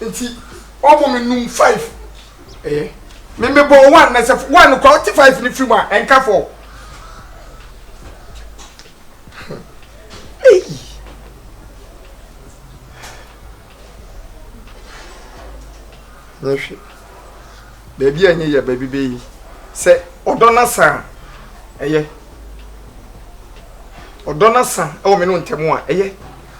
Nti ɔmo me num five ɛyɛ me me bɔ one na sɛ one kɔ ɔte five ne firi mu a ɛnka fɔ eyi nyɛ hwɛ baabi a nye yɛ baabi bɛ yi sɛ ɔdɔ na sa ɛyɛ ɔdɔ na sa ɛwɔ me no ntɛm a ɛyɛ.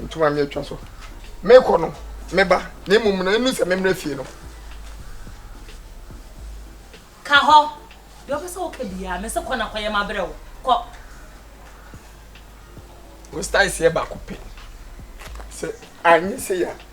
Ntoma me atwa so. Mekɔ no, meba, na mmom na ɛnu sɛ memmrɛ fie no. Ka hɔ. Deɛ ɔpɛ sɛ woka biara, mese kɔ na kɔyɛ mabrɛ wo. Kɔ. Wo style seɛ baako pɛ. Sɛ anyɛ sei a,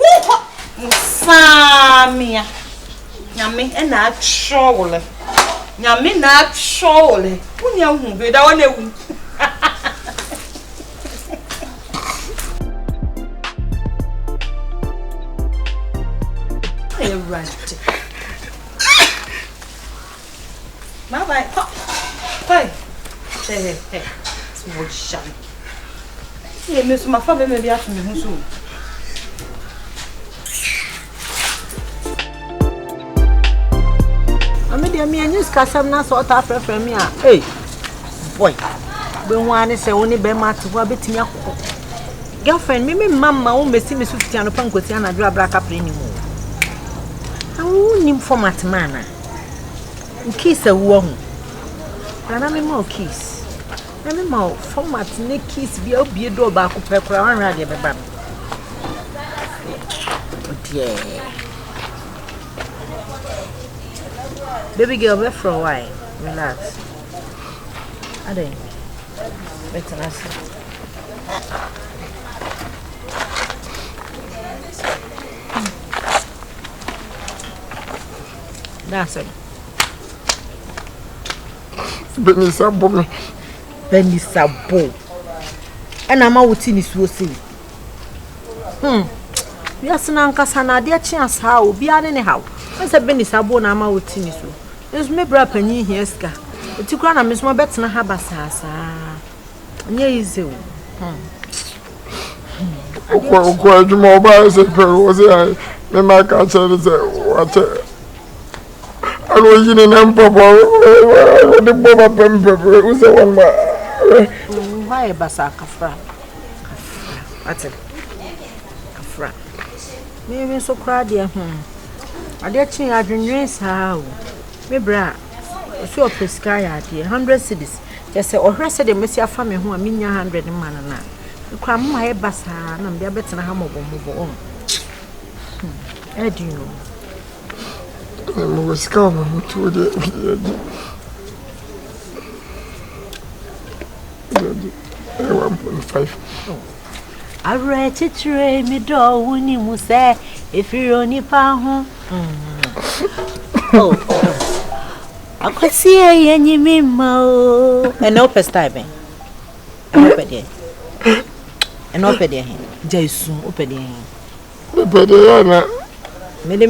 Wonkɔ! Musaamia! Nyame na atwerɛ wo lɛ. Nyame na atwerɛ wo lɛ. Wonya hu hwee da wɔn ewu. Ewurade. Bye bye kɔ kɔ yi hwɛ hɛ hɛ ti wɔ hyɛ no. Yɛ mi nso ma fa bɛma bi ato me ho so o. deɛ mi anyi sikasɛm na sɛ ɔtaa frɛfrɛ mi a ee boy bɛhu ara ne sɛ wo ne bɛrima te hɔ a bɛtumi akɔ girlfriend mi mi mma mma wo mmɛsi me so fiti anɔpa nkɔsi anadwo abra kapre ne mu na wo wonim format ma anaa Wo keys a wowɔ ho. Bra na mema wo keys. Na mema wo format ne keys bi a wobie dɔɔ baako pɛ koraa wanhwɛ adeɛ bɛba no. Deɛ. Baby girl bɛfrɛ wo ae. Relax. Adɛn? Bɛtena ase. Dasɛm. Benisa bo me. Benisa bo. Ɛna ama wote ne suo sei. Hmm. Wiase no ankasa no adeɛ kyea saa o. Obiara ne ne haw. Ɛsɛ Benisa bo na ama wote ne suo. Nso me bra panyin hia sika. Eti kura na me nso mabɛtena ha basaasaa. Nyɛ easy o. Hmm. wokɔ adwuma ɔbaa sɛ pɛro wɔ sɛ ae mema ka kyerɛ ne sɛ wakyɛ ɛna ɔyi ne nam papa ɔde bɔ ma pɛmpɛm wo sɛ wɔn ma hɔ ayɛ basa kafra kafra ate kafra meme nso koraa deɛ hmm adeɛ kye adwennwen saa o me berɛ a Ɔse ɔpɛ sika ayɛ adeɛ hundred cedis kyerɛ sɛ ɔhwɛ sɛdeɛ mɛsi afa me ho a menya hundred no ma no no a me koraa moma ayɛ basaa na mede abɛtena ha mmɔbɔ mmɔbɔ ɔho hmm ɛdi no mewɔ sika wɔ me ho tuo deɛ ɛdi ɛdi ɛdi ɛwɔ mpɔn five Awerɛkyekyerɛ yi me dɔ wo ni mu sɛ ɛfiri onipa ho oh. akwasie yɛnyi me mma o ɛnɛ wopɛ style bɛn ɛnɛ wopɛ deɛ ɛnɛ wopɛ deɛ he gya esu wopɛ deɛ he wopɛ deɛ yɛ na mede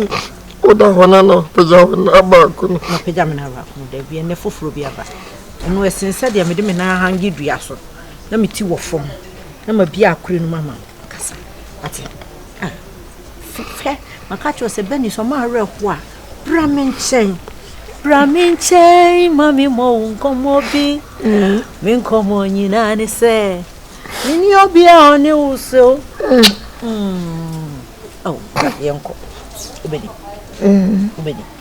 woda hɔ no na pagya wo na baako no na pagya me na baako no da bi ɛnɛ foforɔ bi aba ɛno ɛsen sɛ deɛ mede me nan hange dua so na me ti wɔ fam na mabia akore no mu ama wo kasa wate ah fifɛ maka kyerɛ sɛ bɛni sɛ ɔma awerɛho a bra me nkyɛn bra me nkyɛn ma me mmɔ wo nkɔmmɔ bi me nkɔmmɔ nyinaa ne sɛ menni obia ɔne wo sɛ o mm. oh, yɛnkɔ wobɛni wobɛni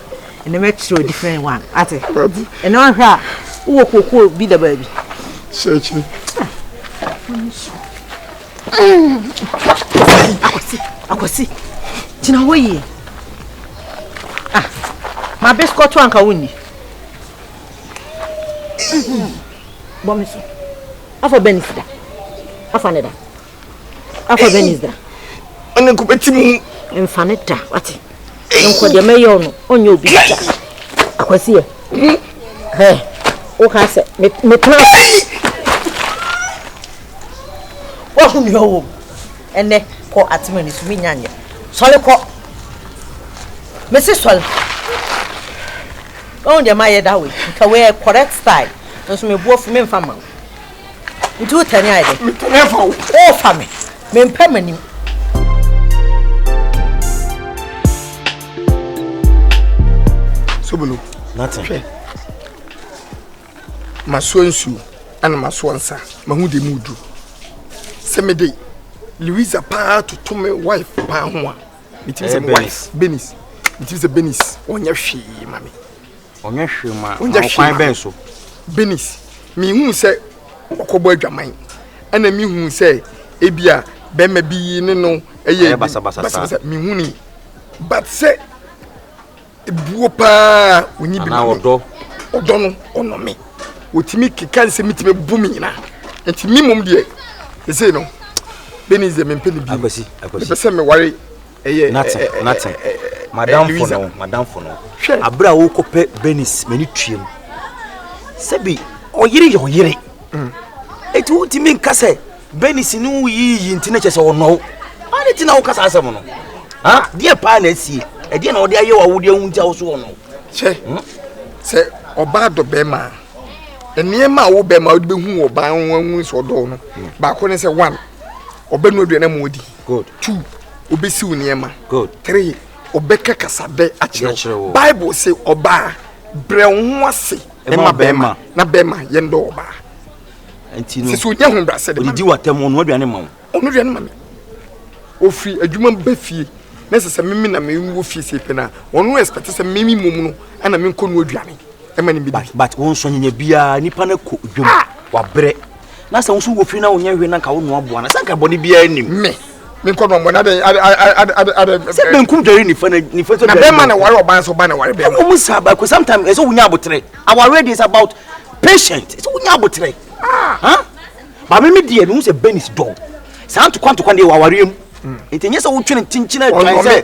ɛnna mɛkyerɛ o different one ate ɛnna ɔhwɛ a wowɔ kookoo bi da baabi. sɛkyɛ. akwasi akwasi gyina hɔ yie ah ma bisikɔto anka wonni bɔ me so afa bɛn sida afa ne da. akɔ venice da ɔne nkɔ bɛti mu mfa ne da wate nkɔ deɛ mɛyɛ ɔno ɔnyɛ obi da akwasiɛ hɛ woka sɛ metena wahu nea ɔwɔ mu ɛnɛ kɔ atema ni so menya nyɛ sɔre kɔ mese sɔre ɔhu deɛ mayɛ da wei nka wei correct style nso meboɔ fi memfa ma wo Nti wo tɛne ayɛ dɛ? Me tɛne fa wo. O fa me. Me mpɛ m'anim. Sobolo. Nothing. Hwɛ. Masoɔ nsuo ɛna masoɔ nsa. Mahu de mu du. Sɛ me de Louisa paa toto me wife paa ho a. Metumi sɛ me wife. Benis. Metumi sɛ Benis. Ɔnyɛ hwee ma me. Ɔnyɛ hwee ma Ɔnyɛ hwee kwan bɛn so? Benis, mehuu sɛ ɔkɔbɔ adwaman ɛna mehuu sɛ ebia bɛrima bi ne no ɛyɛ basabasa mehuu ni but sɛ ebuo paa onyi bi ma me ɔdɔ ɔdɔ no ɔnɔ me wɔtumi keka nsɛ metumi bu me nyina nti me mmom deɛ ɛsei no Benis deɛ mempɛ ne bi mepɛ sɛ meware Nate, Nate, madamfo no, madamfo no. Abere a wokɔpɛ Benis, m'ani tuam. Sɛbi, ɔyere yɛ ɔyere. Mm. Eti wotumi nka sɛ Benis ne wo yiyi nti na kyɛ sɛ ɔnɔ wo. Ade ti na wokasa asɛm no. Ha, deɛ paa na asie. Ɛdeɛ na ɔde ayɛ wo awodeɛ ho nti a wo so ɔnɔ wo. Kyɛ, hmm? sɛ ɔbaa dɔ bɛrima a, nneɛma a wo bɛrima wode bɛhu wɔ baa ho ahu sɛ ɔdɔ no baako ne sɛ one ɔbɛnu aduane ma wadi Good. Two, obesiw nneɛma. Good. Three, ɔbɛka kasabɛ akyerɛ wo. Bible se ɔbaa brɛ wo ho ase ma bɛrima na bɛrima yɛn dɔ ɔbaa. Nti no. Sisi onya ho brasɛ de ma. Odidi watam ɔno aduane ma wo. Ɔno aduane ma me. Ofiri adwuma ba fie na sɛ sɛ mimi na mimi wɔ fie sɛ pɛ na ɔno expect sɛ mimi mom no ɛna menkɔ no aduane ɛma ne bi. But but wɔn nsɔnyanya biara nipa no kɔ dwom ah! wabrɛ. na sɛ woso wɔ fie na wonyɛ hwee na nka wonoa boa no sɛ nka bɔne biara nim me menkɔ no ɔmɔne adɛ sɛ benkum dware nifa na nifa sɛ na bɛma na ware ɔban so ba na ware bɛma ɔmu saa baako sometimes ɛsɛ wonya abotere awareɛ deɛ is about patient ɛsɛ wonya abotere ah. ba me me deɛ mehu sɛ ben is dɔw saa ntokwa ntokwa deɛ wɔ awareɛ mu nti nyɛ sɛ wotwene kyenkyena adwan sɛ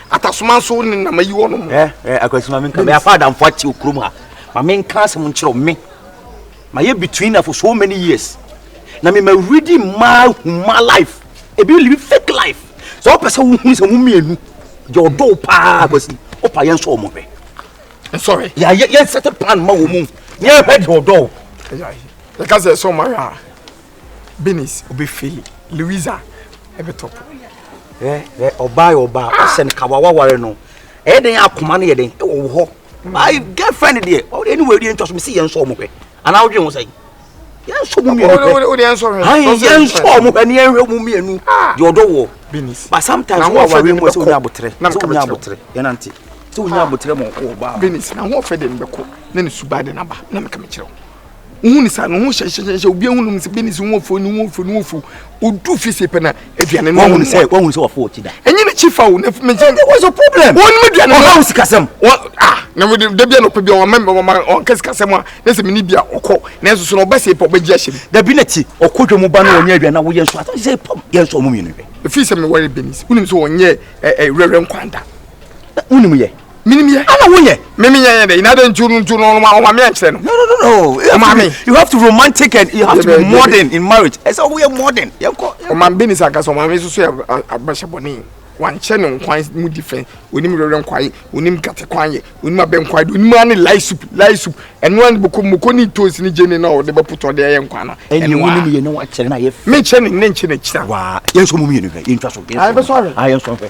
atasoma nso ne nam ayi wɔn ho. ɛ ɛ akwasi maame nka mɛ afa adamfo ati okurom ha maame nka asɛm nkyerɛw me ma yɛ between na for so many years na me ma redi mmaa huma life ebi live fake life sɛ ɔpɛ sɛ wohun sɛ mo mmienu deɛ ɔdɔw paa akwasi ɔpa yɛn nso wɔn hwɛ nsɔre yɛ yɛ yɛn sɛte plan ma wɔn mu yɛn hwɛ deɛ ɔdɔw. ɛka sɛ ɛsɛ ɔmo ayɛ a. Benis obe fail Louisa ɛbɛ top. Hwɛ hwɛ ɔbaa yɛ ɔbaa ɔsɛ no kawa waware no ɛyɛ den akoma no yɛ den ɛwɔ wo hɔ ayi girlfriend deɛ ɛni wɔ ɛdi ɛntwa so mi si yɛn nsɔ ɔmo hwɛ anaa ɔdwe ho sɛn yɛn nsɔ ɔmo mienu hwɛ ayi yɛn nsɔ ɔmo hwɛ ni yɛn hwɛ ɔmo mienu deɛ ɔdɔ wɔ but sometimes wɔn awari mu sɛ wɔn nyɛ abotire sɛ wɔn nyɛ abotire yɛn nante sɛ wɔn nyɛ abotire mu ɔkɔ ɔbaa. Benis na ho ɔfɛ de mbɛkɔ na ne suba de naba na meka mekyerɛw. wohu no saa no ho hyɛhyɛhyɛ obi ahu nom sɛ bɛni sɛ wo fo ne wo fo ne wo fo odu fi se pɛ na aduane no wɔhu sɛ wɔhu sɛ wɔfo ɔkyi da ɛnyɛ ne kyi fa o na mɛ sɛ what's your problem wɔn mu aduane no ɔha wo sikasɛm wɔn ah na mo de dabi anɔpɛ bi wɔn mɛ wɔn wɔn kɛ sikasɛm a ne sɛ mini bi a ɔkɔ na nso so na ɔbɛ se pɔ ɔbɛ gye ahyɛ mu dabi na ti ɔkɔ dwa mu ba na wɔnyɛ aduane na wɔyɛ nso asɛ sɛ pɔm yɛ nso ɔmo mmienu hwɛ efi sɛ mɛ wɔyɛ bɛnis wonim sɛ wɔnyɛ ɛ ɛ wɛrɛ nkwanta wonim yɛ Minim yɛ. Ana wo yɛ. Me me yɛ yɛ dɛ. Ina dɛ ntu no ntu no no ma me ankyerɛ no. No no no no. You have, to, you have to romantic and you have to be modern in marriage. Ɛsɛ ɔmo yɛ modern. Yɛn kɔ. Ɔma bɛ nisa nkasa ɔma mi soso yɛ abɛhyɛ bɔ ne. Wankyɛ ne nkwan mu di fɛn. Onim rɛrɛ nkwan. Onim gate kwan yɛ. Onim abɛ nkwan. Onim ani lai soup lai soup. ɛnoa ne boko moko ne ntosi ne gyene na ɔde bɛpotɔ ɔde ayɛ nkwa no ɛne wo ne ne yɛ ne wakyerɛ na yɛ fɛ menkyɛ ne ne nkyɛ n'akyira waa yɛn nso mu mmienu hwɛ yɛntwa so yɛn nso hwɛ yɛn nso hwɛ